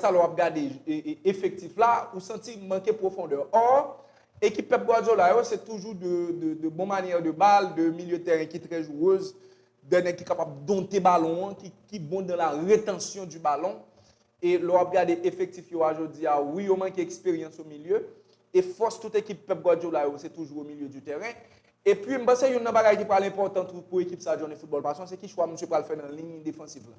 sa lè w ap gade efektif la, ou santi li manke pwofondè. Or, ekip Pep Guardiola yo, se toujou de bon manyè de bal, de milye tèren ki trè jouwez, de nèg ki kapab donte balon an, ki bon dan la retansyon di balon. E lè w ap gade efektif yo a jodi a, wi yo manke eksperyans o milye, e fòs tout ekip Pep Guardiola yo se toujou o milye di tèren. E pi, m panse youn nan bagay ki pral enpòtan tou pou ekip sa Johnny Football Passion, se ki chwa misye pral fè nan liy defansif la.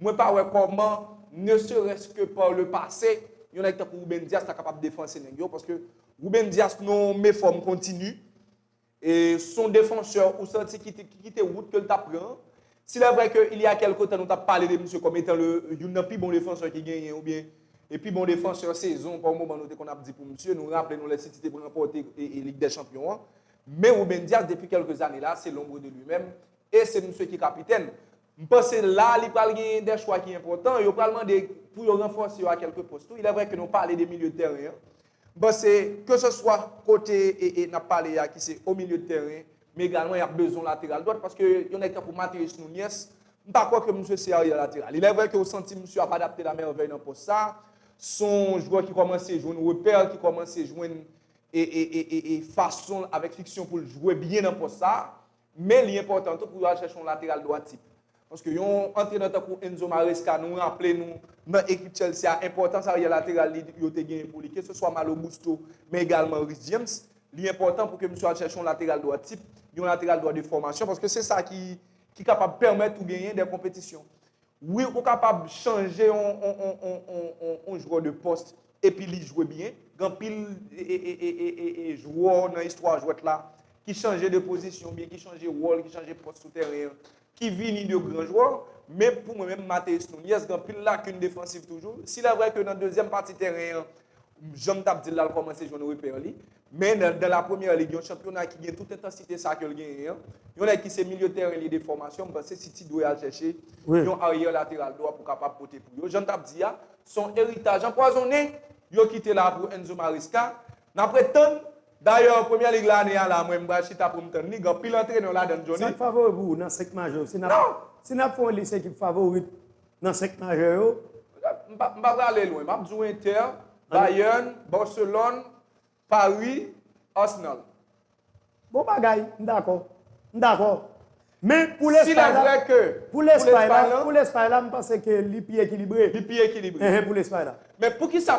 Mwen pa wè kòman, ne serès ke par le pase, yon nèg tankou Ruben Dias ta kapab defanse nèg yo, paske Ruben Dias nan yon mefòm kontini, e son defansè ou santi ki kite wout ke l ta pran an. S'il est vrai ke il ya kèlke tan nou ta pale de misye kòm etan le youn nan pi bon defansè ki genyen oubyen e pi bon defansè sezon pa yon moman nou te konn ap di pou misye, nou raple nou lè City te ranpòte Lig dè Chanpyon an. Men Ruben Dias depi kèlke zane la se l'ombre de lui-même e se misye ki kapitèn. M panse la a li pral gen dè chwa ki enpòtan. Yo pral mande pou yo ranfòse yo a kèlke pòs tou. Ilè vrè ke nou pale de milye de tèren an. M panse ke se swa kote n ap pale a ki se o milye de tèren, men egalman y ap bezwen yon lateral dwat paske yon nèg tankou Mathéus Nunez, m pa kwè ke misye se aryè lateral. Ilè vrè ke ou santi misye ap adapte la mèvèy nan pòs sa a. S on jwè ki kòmanse jwenn repè, ki kòmanse jwenn fason l avèk fiksyon pou l jwe byen nan pòs sa a. Men li enpòtan tou pou yo al chèche yon lateral dwa tip. Paske yon antrenè tankou Enzo Maresca nou raple nou nan ekip Chelsea a enpòtans aryè lateral li yo te genyen pou li keseswa Malo Gusto men egalman Reece James. Li enpòtan pou ke misye al chèche yon lateral dwa tip, yon lateral dwa de fòmasyon paske se sa ki kapab pèmèt ou genyen dè konpetisyon. Wi ou kapab chanje yon jwè de post epi li jwe byen, gen anpil jwè nan istwa jwèt la ki chanje de pozisyon oubyen ki chanje wòl, ki chanje pòs sou tèren an, ki vini de gran jwè, men pou mwen menm Matheus Nunez gen anpil lakin defansiv toujou, si lè vrè ke nan dezyèm pati tèren an Jan m t ap di l la, l kòmanse jwenn repè li. Men, nan la premyè lig, yon chanpyona ki gen tout entansite sa a ke l genyen an, yon nèg ki se milye tèren li de fòmasyon, m panse City dwe al chèche yon aryè lateral dwa pou kapab pote pou yo. Jan n t ap di a, se yon eritaj anpwazonnen yo kite la pou Enzo Maresca. N ap ret tann. Dayè, premyè lig la ane a la, mwen m pral chita pou m tann li. Gen anpil antrenè ladan l, Jhonny. Sa k favori pou ou nan 5 majè yo? Si n ap fè yon lis ekip favorit Nan 5 majè yo? M pa pral ale lwen. M ap di w Inter, Bayern, Barcelone, Paris, Arsenal. Bon bagay. M dakò. M dakò. Men pou Lespay la, pou Lespay la, pou Lespay la m panse ke li pi ekilibre. Li pi ekilibre. Pou Lespay la. Men poukisa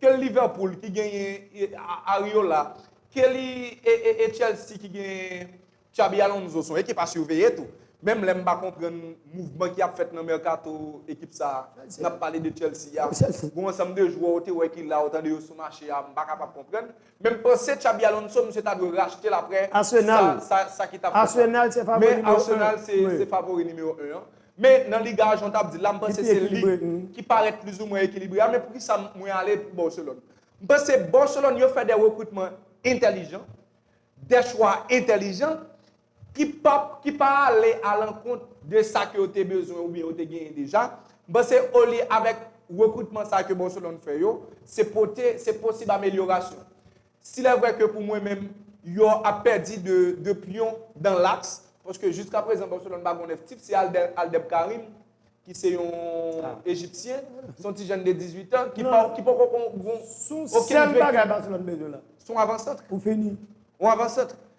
Kel Liverpool ki genyen Ariola, kel e Chelsea ki genyen Xabi Alonso son ekip a siveye tou. Menm lè m pa konprann mouvman ki ap fèt nan mèkato ekip sa a, n ap pale de Chelsea a. Gon ansanm de jwè ou te wè ki la ou tande yo sou mache a, m pa kapab konprann. Menm panse Xabi Alonso misye ta dwe rachetel aprè sa sa ki tap fèt la. Men Arsenal se favori numéro 1 an. Men nan liga a jan w tap dil la m panse se li ki parèt plis ou mwen ekilibre a men poukisa mwen ale pou Barcelone. M panse Barcelone yo fè de rekritman entèlijan, de chwa entèlijan ki pap, ki pa ale alankont de sa ke yo te bezwen oubyen yo te genyen deja, m panse olye avèk rekritman sa ke Barcelone fè yo, se pote, se posib amelyorasyon. Silèvre ke pou mwen menm, yo ap pèdi de, de pyon dan laks, paske jiska prezan Barcelone pa gon 9 tip, se Alder, Aldeb Karim, ki se yon Ejipsyen, se yon ti jèn de 18 an, ki pa, ki poko gon, gon okenn vekil. Sèl bagay Barcelone bezwen la. Se yon avan santre. Pou fini. Yon avan santre.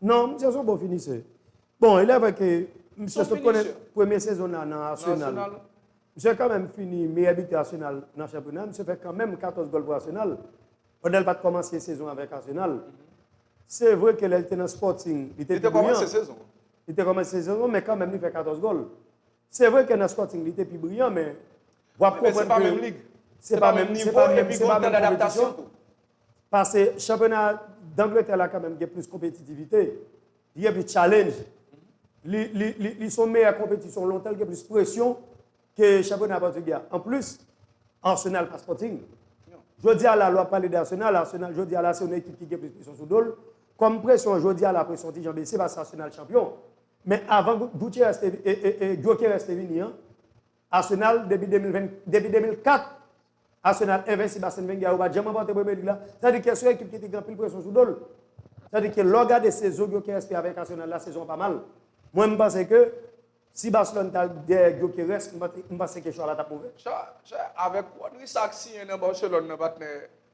Non, misye son bon finisè. Bon, elè vre ke misye sot konnen premye sezon nan nan Arsenal. Misye kanmenm fini meyè bitè Arsenal nan chanpyona. Misye fè kanmenm 14 gòl pou Arsenal. Pandan l pat kòmanse sezon avèk Arsenal. Se vre ke lè l te nan Sporting, li te pi briyan. Li te kòmanse sezon. Li te kòmanse sezon, men kanmenm li fè 14 gòl. Se vre ke nan Sporting li te pi briyan, men wap konprann ke se pa menm lig. Se pa menm nivo, epi gon tan d'adaptasyon tou. Pase chanpyona Dangletè la kanmenm gen plis konpetitivite, li gen plis challenge, li son meyè konpetisyon lontan, li gen plis presyon ke chanpyona Pòtigè a. Anplis, Arsenal pa Sporting. Jodi a la, lè w ap pale de Arsenal, Arsenal jodi a la se yon ekip ki gen plis presyon sou do l. Kòm presyon an jodi a la, presyon an ti jan bese pase Arsenal chanpyon. Men avan Gyokeres te vini an, Arsenal depi 2004 Arsenal envensib Arsene Wenger yo pat janm ranpòte Premier League la sa vle di Kès yon ekip ki te gen anpil presyon sou dol sa vle di ke lèw gade sezon Gyökeres fè avèk Arsenal la sezon an pa mal mwen m panse ke si Barcelone tal dèyè Gyökeres m panse ke chwa la tap move. Chwa avèk Rodri sak siyen nan Barcelone nan patnè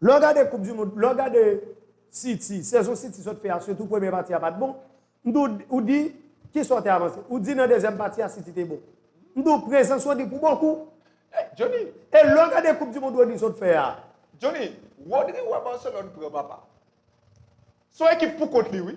Lè w gade koup du mond, lè w gade City, sezon City sot fè a sitou premye pati a pat bon, m di w, ou di kisa w te avanse? Ou di nan dezyèm pati a City te bon. M di w prezans Rodri pou bon kou. Hey Johnny! E lè w gade koup du mond Rodri sot fè a? Johnny, Rodri wè Barcelone pran papa. Son ekip pou kont li wi.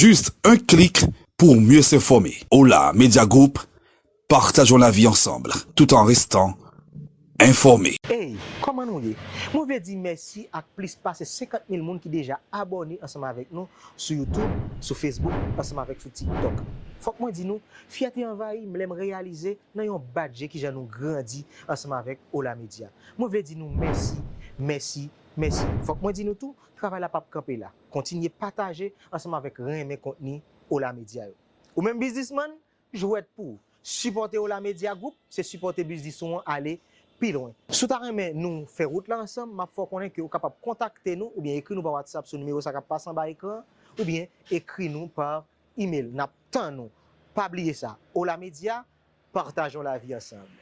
Juste un clic pour mieux s'informer. Hola Media Group, partageons la vie ensemble tout en restant informé. Hey, kòman nou ye? Mwen vle di mèsi ak plis pase 50 mil moun ki deja abòne ansanm avèk nou sou YouTube, sou Facebook ansanm avèk sou TikTok. Fòk mwen di nou, fyète anvayi m lè m reyalize nan yon bat je kijan nou grandi ansanm avèk Hola Media. Mwen vle di nou mèsi, mèsi, mèsi. Fòk mwen di nou tou, travay la pap kanpe la. Kontinye pataje ansanm avèk renmen kontni Ola Media yo. Ou menm biznisman, jwèt pouw sipòte Ola Media Group se sipòte biznis ou an ale pi lwen. Si w ta renmen nou fè wout la ansanm, map fè w konnen ke ou kapab kontakte nou oubyen ekri nou pa WhatsApp sou nimewo sa kap pase anba ekran an, oubyen ekri nou pa email. Nap tann ou. Pa bliye sa, Ola Media, patajon lavi ansanm.